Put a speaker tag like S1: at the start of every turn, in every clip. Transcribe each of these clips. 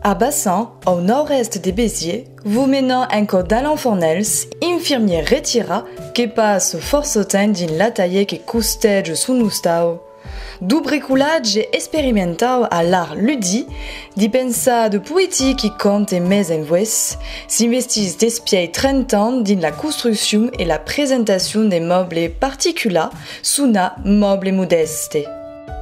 S1: A Bassan, au nòrd-èst de Béziers, vos menam enco d'Alain Fornels, infirmièr retirat que pas fòrça temps dins l'atalièr que costètz son ostau, d'obricolatge esperimentau a l'art ludit D'i pensar de poetii qui compte mès en Voès, s'investís despièi 30 ans dins la construccion e la presentacion de mòble particular sonat mòble modèste.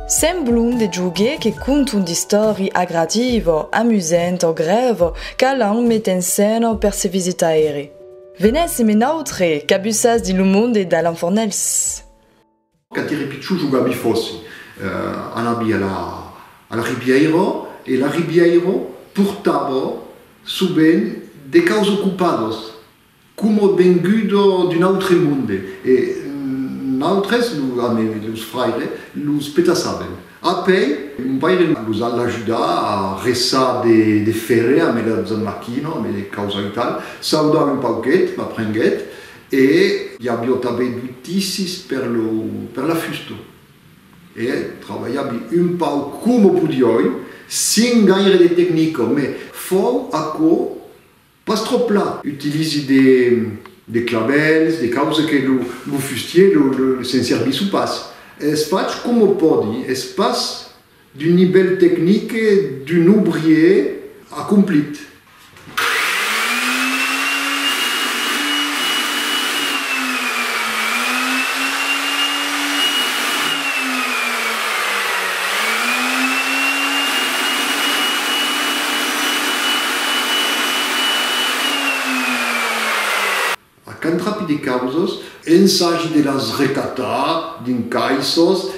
S1: Semblon de joguets que conton d'istòri agradiva o amusenta o grèva qu'Alan met en scèna per se visitaire. Venèssim en autre, cabussas dins lo monde d'Alan Fornelhs. Quand ère pichon jogabi fòssi, anabi a la ribièira e la ribièira portava sovent de caus ocupados, coma venguda d'un autre monde e nautres, a mai los fraires, los petassaven. Apèi, mon paire los al ajudar a resar de fèrre a mai la zanmachina, a mai de causai tal, saudar un pauquet, m'aprenguèt E i avió tanben du tissis per lo per la fusta. E trabalhavi un pauc coma podioi, sin gaire de tecnica, me fau aquò pas tròp pla. Utilisi de de clavèls, de causa que lo lo fustier lo se'n servissu pas. Es fach coma pòdi, es pas D'un nivèl tecnic d'un obrier acomplit. A cantrapi de causas. Ensagi de las recatar dins caissas.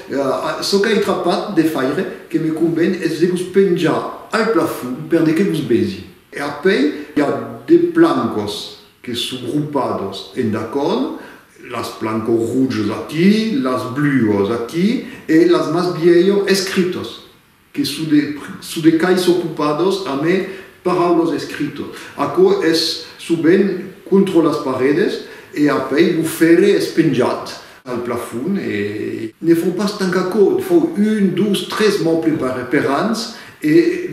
S1: Çò qu'ai trapat de faire, que me conven, es de vos penjar al plafond per de que vos besi. E apèi i a de plancas que son grupadas en dacon, las plancas rojas aquí, las bluas aquí e las mas bièlhas escritas. Que çò de quai s'ocupados a me parar los escritos. Aquò es sovent contro las paredes e apèi lo fèrre es penjat al plafon e. Ne fau pas tant qu'aquò, ne fau un, dos, tres mòbles per ans e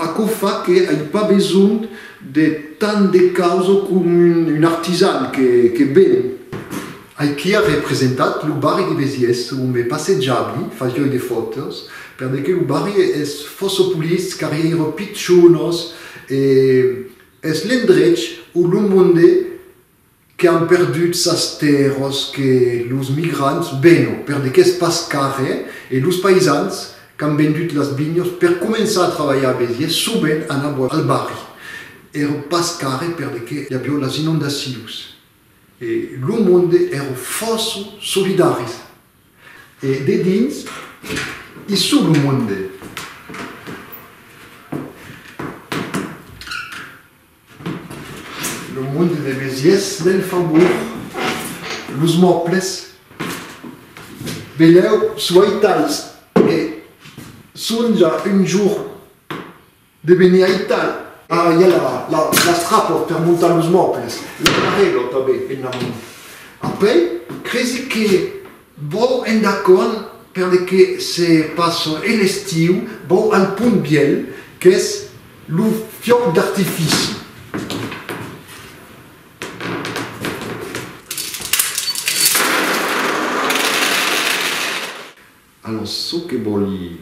S1: aquò fa que ai pas besonh de tant de causo com un artisan que ven. Aiquí a representat lo barri de Besiès ont me passejavi, fagioi de fòtos, per de que lo barri es fòsso polits, carrièiro pichonos e es l'endrech o lo monde que an perdut sas tèrros que los migrants veno per de qu'es pas carrè e los paisans qu'an vendut las vinhos per començar a trabalhar a Besiès sovent anavo al barri, ero pas carrè per de que i avió las inondacions. E lo monde èrò fòrça solidaris. E dedins i suu lo monde. Lo monde de Besièrs del Faubourg, los mòbles, velèu soitalhs e sonja un jorn. De venir a Italia. Ara i a las trapòt per montar los mòbles, l'anarelo tanben en amont. Après, cresi que vau endacònt perle que se passa e l'estiu, vau al Pont Bièlh, qu'es lo fiòc d'artifici. Alos çò que vòli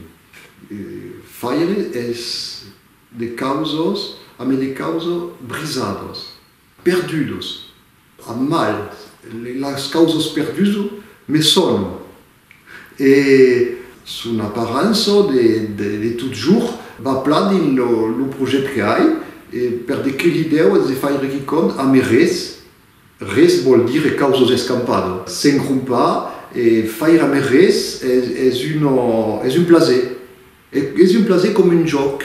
S1: faire es de causos ame de causos brisados, perdudos, a mal, los causos perduso me sono e son aparança de totjorn va plan dins lo projèct que ai e per de quilhi deu es de faire quicòm ame res. Res vòl dire causos escampado. S'engrompar e faire mai res es un plaser. Es un plaser coma un jòc.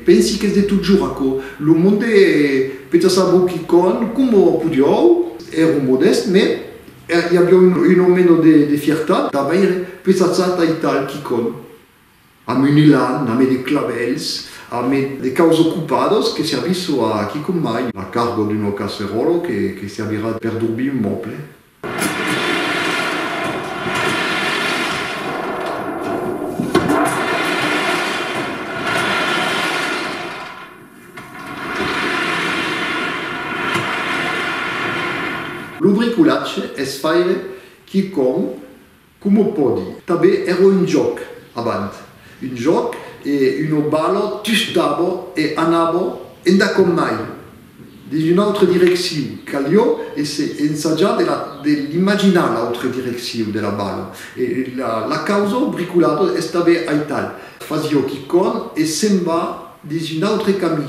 S1: Pensi qu'es de totjorn aquò. Lo monde peta sabó quicòm, coma podiáu. Èron modèsts, mai i aviá un òme de fiertat. Davaire, peta chata e tal, quicòm. Amb un elan, amé de clavèls, amé de caus ocupados que servisso a quicòm mai, la cargo d'un o casseròlo que que servirà per dorbir un mòble. Lo bricolatge es faire quicòm. Coma pòdi, tanben èra un jòc abant, un jòc e una bala tusdava e anava enda com mai dins una autra direcciu, calió èsser ensajat de la de l'imaginar l'autra direcciu de la bala e la la causa bricolada estava aital, fasió quicòm e se'n va dins un autre camí.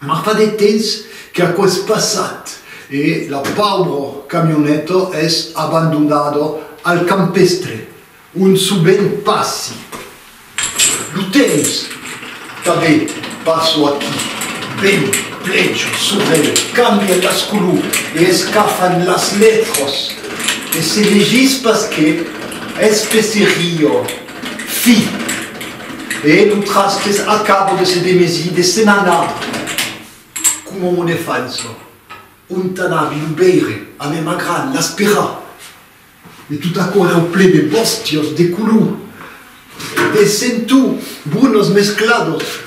S1: Mas fa de temps qu'aquò es passat e la paubra camioneta es abandonada al campestre, ont sovent passi. Lo temps tanben passo aquí, vent, pleja, sorelh, cambia las color e escafan las letras e se legís pas que, especeria, fi. E tu trasques a cabo de se demesir, de se'n anar, coma un elefant çò. Ont anavi lo veire, a mema gran, l'esperar. E tot aquò era au plen de bòstias, de color, de centu, brunas mescladas.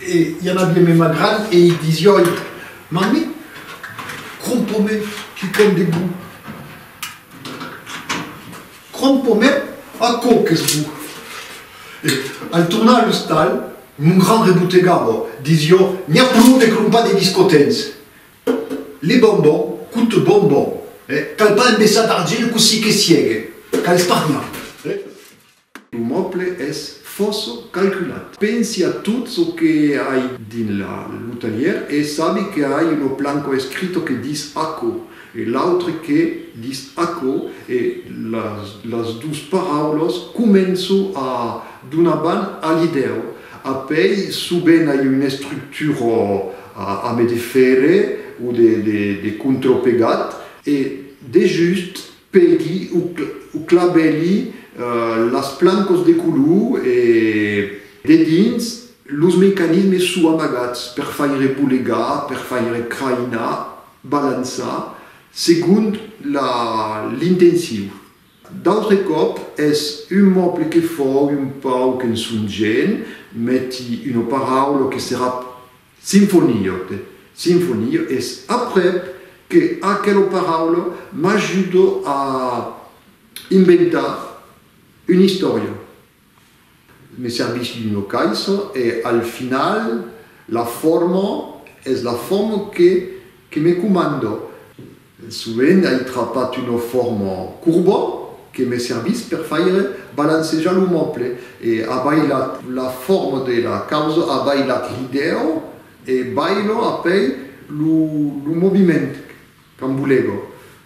S1: E i anavi a mema gran e i disioi, Mami, crompa-me quicòm de bon. Crompomè aquò qu'es bon. E, en tornar a l'ostal, mon gran rebotegabo, dis jo, n'i a plou de crompar de biscotens. Le bonbon coute bonbon. E, cal pas embeçar d'argile cossí que siegue. Cal espargnar. E. Lo moble es fòça calculat. Pensi a tot çò que ai dins lo talhièr e sabi que ai un oplanco escrito que dis aquò. E l'autre que dis aquò e las dos paraulas començo a donar ban a l'idèu. Apèi soben ai una estructura a me defèrre o de contrapegat. E dejust pegui o clavèli las plancas de color e dedins los mecanismes sou amagats per faire bolegar, per faire crainar. balançar segon l'intencion. D'autres còp es un mòble que fòu un pauc ensonjent, meti una paraula o que serà sinfoniote, sinfonio, es aprèp que aquela paraula m'ajuda a inventar una istòria. Me servís d'un locais e al final la forma es la forma que me comanda. Sovent ai trapat una forma corba que me servís per faire balancejar lo moble e a bailat la forma de la causa, a bailat l'idèa e baila apèi lo moviment quand bolega.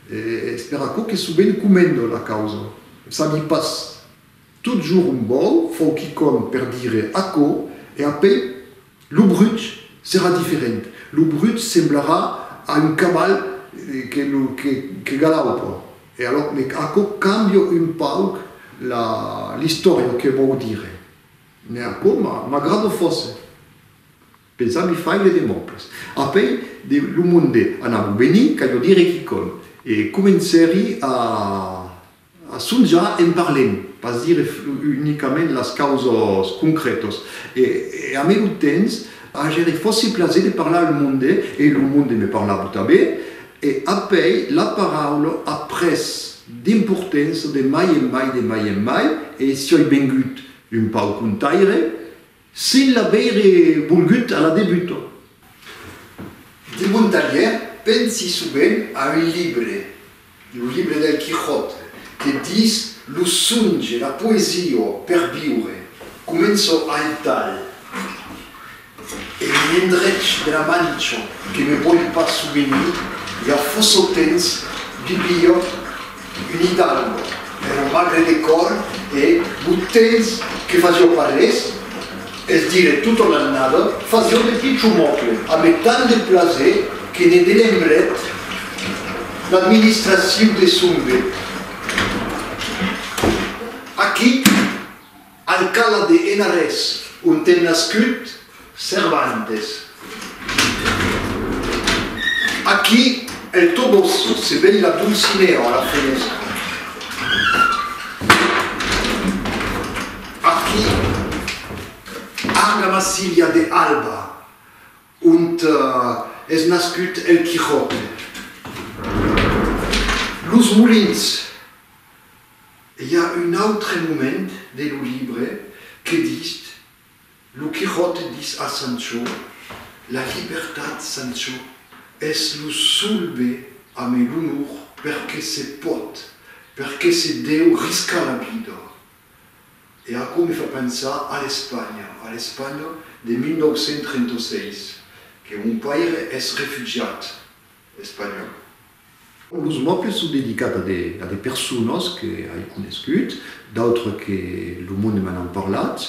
S1: Es per aquò que sovent comenda la causa, sabi pas. Totjorn un bòl fòu quicòm per dire aquò, e apèi lo brut serà diferent. Lo brut semblarà a un caval que galaupa. E alòr me aquò cambia un pauc l'istòria que vòu dire. Me aquò m'agrada fòrça. Pensar mi fai de demòcles. Apèi de lo monde anava venir, calhó dire quicòm. E comencèri a. Açò ja en parlem, pas dire unicament las causas concrètas. E a merut temps, ager e fòsse plaser de parlar al monde, e lo monde me parlava tanben, e apèi la paraula a pres d'importença de mai en mai, de mai en mai, e sioi vengut un pauc contaire, S'il l'a veire volgut a la debuta. De mon talhièr, pensi sovent a un libre, lo libre del Quijote, que dis lo songe, la poesia per viure. Començo aital, en un endrech de la Mancha que me vòl pas souvenir, i a fòssotemps vivia Imitant per un magre de còr e bot tens que fasió pas res, es dire tota l'annada, fasió de pichomòcle ame tant de plaser que ne delembrèt l'administraciu de Sombe. Aquí! Alcala de Henares, onte nascut Cervantes. Aquí el Toboso se vei la Dulcinea a la fenestra. Aquí Arga Massilia de Alba, ont es nascut el Quijote. Los Molins. I a un autre moment de lo libre que dis lo Quixòte dis a Sancho, La libertat, Sancho, es lo sol be ame l'onor per que se pòt, per que se deu riscar la vida. E aquò me fa pensar a l'Espanha, a l'Espanha de 1936, que mon paire es refugiat espanhòl, Los mòbles son dedicats a de personas que ai conescut, d'autres que lo monde me n'an parlat,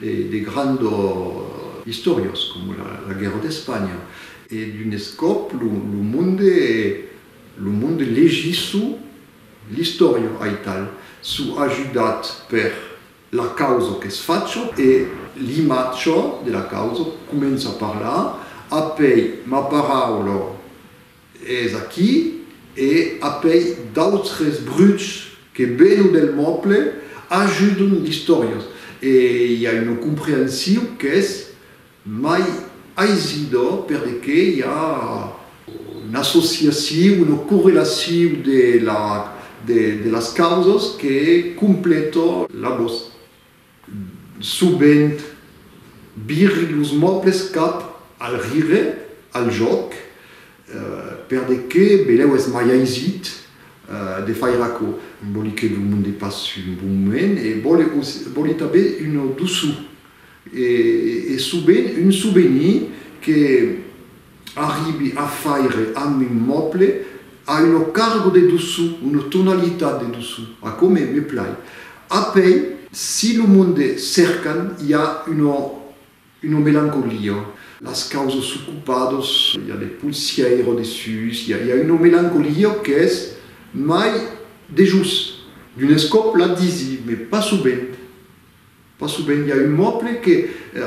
S1: de grands istoriós coma la guèrra d'Espanha e d'un escòp lo monde lo monde legit çu l'istòria aital çu ajudat per la causa qu'es facha e l'imatge de la causa comença a parlar, apèi ma paraula Es aquí, e apèi d'autres bruchs que vènon del mòble, ajudon l'istòriós, e i a una comprensiu qu'es mai aisida perque i a una associaciu, una correlaciu de las causas que completa la vos. Sovent, viri los mòbles cap al rire, al jòc, per de que belèu es mai aisit de faire aquò. Vòli que lo monde passe un bon moment e vòli tanben una doçor e sovent un sovenir que Arribi a faire amb un mòble a una cargo de doçu, una tonalitat de doçu. Aquò me, me plai. Apèi, si lo monde cercan, i a una, una melancolia. Las causas s'ocupadas, i a de polsièira dessús, i a, i a una melancolia qu'es mai dejós. D'un escòp la disi, me pas subent. Pas subent i a un mòble que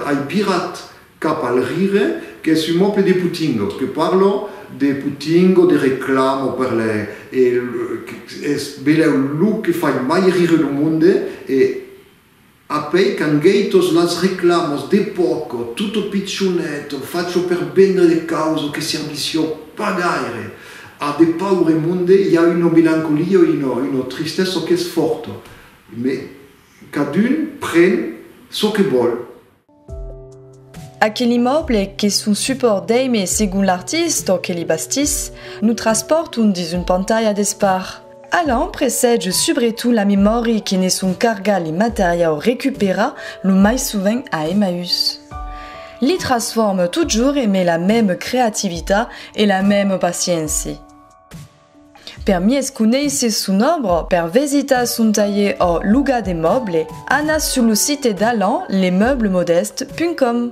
S1: ai birat cap al rire qu'es un mòble de putingo, que parlo de putingo, de reclamo per le e es belèu lo que fai mai rire lo monde e apèi quand gei tos las reclamos de poco, tutto piccionetto, facho per vendre de causo que servissio pas gaire a de paure monde, i a una melancolia, una tristessa qu'es forta. Cadun pren çò que vòl. Aquel immòble que son supòrt d'èime segon l'artist o que li bastís, nos traspòrton dins un pantalha d'espar. Allan presètge subretot la memòri que ne son carga li materiau recuperar lo mai sovent a Emmaüs. Li trasfòrme totjorn eme la mème creativitat e la mème paciéncia. Per mies conéisser son òbra, per vesitar son talher ò logar de mòble, anatz sur lo site d'Alain Lemeuble-Modeste.com.